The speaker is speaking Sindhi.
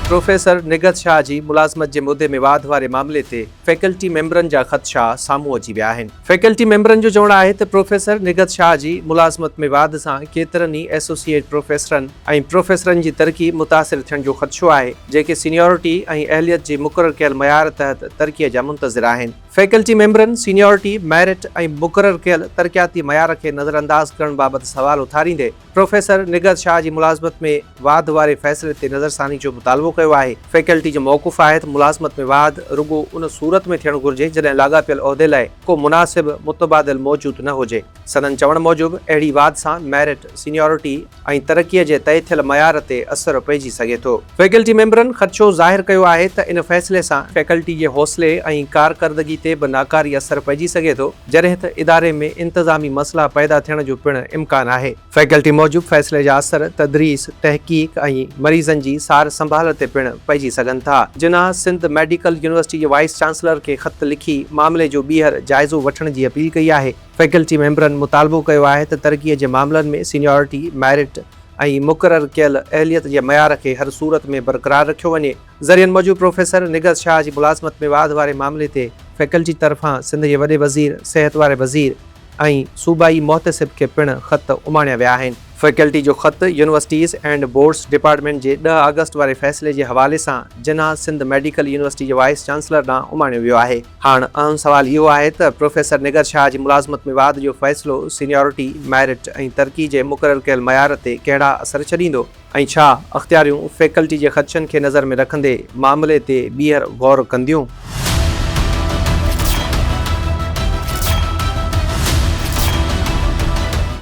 پروفيسر نگهت شاهه جي ملازمت جي مدي ۾ واڌ واري معاملي تي فيڪلٽي ميمبرن جا خدشا سامهون اچي ويا آهن. فيڪلٽي ميمبرن جو چوڻ آهي ته پروفيسر نگهت شاهه جي ملازمت ۾ واڌ سان ڪيترن ئي ايسوسيئيٽ پروفيسرن ۽ پروفيسرن جي ترقي متاثر ٿيڻ جو خدشو آهي، جيڪي سينيارٽي ۽ اهليت جي مقرر ڪيل معيار تحت ترقي جا منتظر آهن. فيڪلٽي ميمبرن سينيارٽي، ميرٽ ۽ مقرر ڪيل ترقياتي معيار کي نظرانداز ڪرڻ بابت سوال اٿاريندي پروفيسر نگهت شاهه جي ملازمت ۾ واڌ واري فيصلي تي نظرثاني جو مطالبو ڪيو آهي. فيڪلٽي جو موقف آهي ته ملازمت ۾ واڌ رڳو ان صورت ۾ ٿيڻ گهرجي جڏهن لاڳاپيل عهدي لاء ڪو مناسب متبادل موجود نه هجي. سندن چوڻ موجب اهڙي واڌ سان ميرٽ، سينيارٽي، ۽ ترقيء جي طئي ٿيل معيار تي اثر پئجي سگهي ٿو. فيڪلٽي ميمبرن خدشو ظاهر ڪيو آهي ته ان فيصلي سان فيڪلٽي جي حوصلي ۽ ڪارڪردگي تي به ناڪاري اثر پئجي سگهي ٿو، جڏهن ته اداري ۾ انتظامي مسئلا پيدا ٿيڻ جو پڻ امڪان آهي. فيڪلٽي موجب فيصلي جا اثر تدريس، تحقيق ۽ مريضن جي سار سنڀال تي پڻ پئجي سگهن ٿا. جناح سنڌ ميڊيڪل يونيورسٽي جي وائيس چانسلر کي خط لکي معاملي جو ٻيهر جائزو وٺڻ جي اپيل ڪئي آهي. فيڪلٽي ميمبرن مطالبو ڪيو آهي ته ترقي جي معاملن ۾ سينيارٽي، ميرٽ ۽ مقرر ڪيل اهليت جي معيار کي هر صورت ۾ برقرار رکيو وڃي. ذريعن موجب پروفيسر نگهت شاهه جي ملازمت ۾ واڌ واري معاملي تي فيڪلٽي طرفان سنڌ جي وڏي وزير، صحت واري وزير ۽ صوبائي محتسب کي پڻ خط اماڻيا ويا آهن. فيڪلٽي جو خط يونيورسٽيز اينڊ بورڊز ڊپارٽمينٽ جي ڏهه آگسٽ واري فيصلي جي حوالي سان جناح سنڌ ميڊيڪل يونيورسٽي جي وائيس چانسلر ڏانهن اماڻيو ويو آهي. هاڻ اهم سوال اهو آهي ته پروفيسر نيگر شاهه جي ملازمت ۾ واڌ جو فيصلو سينيارٽي، ميرٽ ۽ ترقي جي مقرر ڪيل معيار تي ڪهڙا اثر ڇڏيندو ۽ ڇا اختياريون فيڪلٽي جي خدشن کي نظر ۾ رکندي معاملي تي ٻيهر غور ڪنديون؟